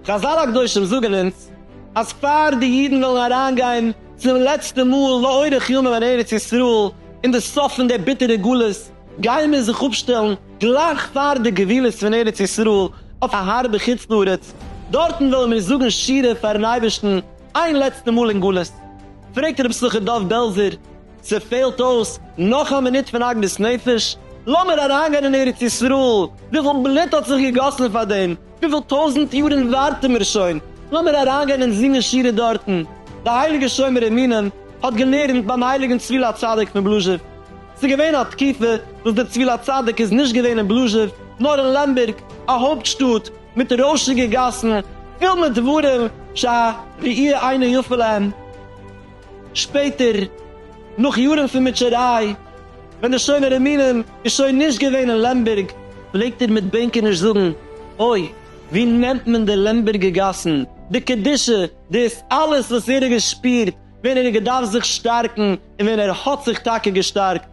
חזל הקדושים זאגען אונז אז פאר די אידען וועלען אריין גיין צום לעצטע מאל לאורך ימים אין ארץ ישראל אין די סוף פון די ביטערע גלות גייען מיר זיך אפשטעלען גלייך פאר די גבולות פון ארץ ישראל אויף א הארבע חוץ לארץ דארטען וועלען מיר זאגען שירה פאר'ן אייבערשטען איין לעצטע מאל אין גלות פרעגט רבי שמחה דוב בעלזער, ס'פעלט אויס נאך א מינוט פון עגמת נפש, לאמיר אריינגיין אין ארץ ישראל, וויפיל בלוט האט זיך געגאסן פאר דעם, וויפיל טויזנט יארן ווארטן מיר שוין, לאמיר אריינגיין און זינגען שירה דארטן, די הייליגע שומר אמונים האט געלערנט ביים הייליגן צביל הצדיק פון בלאזשעוו, ס'געווען א תקופה וואס דער צביל הצדיק איז נישט געווען אין בלאזשעוו נאר אין לעמבערג א הויפט שטאט, מיט די רוישיגע גאסן פול מיט דברים שא ראי' אינו יפה להם, שפעטער נאך יארן פון מוטשעריי ווען די שומר אמונים איז שוין נישט געווען אין לעמבערג, פלעגט ער מיט בענקעניש זאגן, אוי ווי נעמט מען די לעמבערגע גאסן, די קדושה, דאס אלעס וואס ער האט געשפירט ווען ער האט געדארפט זיך שטארקן און ווען ער האט זיך טאקע געשטארקט.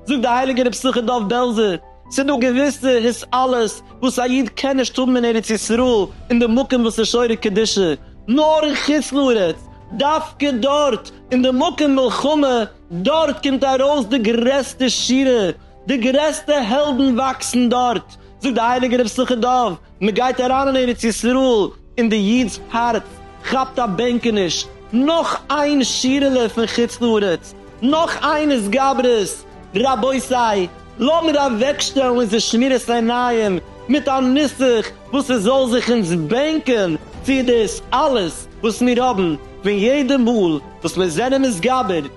זאגט דער הייליגער רבי שמחה דוב בעלזער, ס'איז דא געוויסע הסעלות וואס א איד קען נישט האבן אין ארץ ישראל אין די מקום וואס איז שורה קדישא, נאר אין חוץ לארץ, דווקא דארט אין די מקום מלחמה, דארט קומט ארויס די גרעסטע שירה, די גרעסטע העלדן וואקסן דארט, זאגט די הייליגע רב סוכות דוב, מען גייט אריין אין ארץ ישראל און די איד'ס הארץ כאפט א בענקעניש, נאך איין שירעלע פון חוץ לארץ, נאך איין התגברות, רבותי לאמיר אוועקשטעלן אונזער שמירת עיניים מיט א נוסח וואס עס זאל זיך אונז בענקען צו דאס אלעס וואס מיר האבן, פון יעדע מאל וואס מיר זענען מתגבר,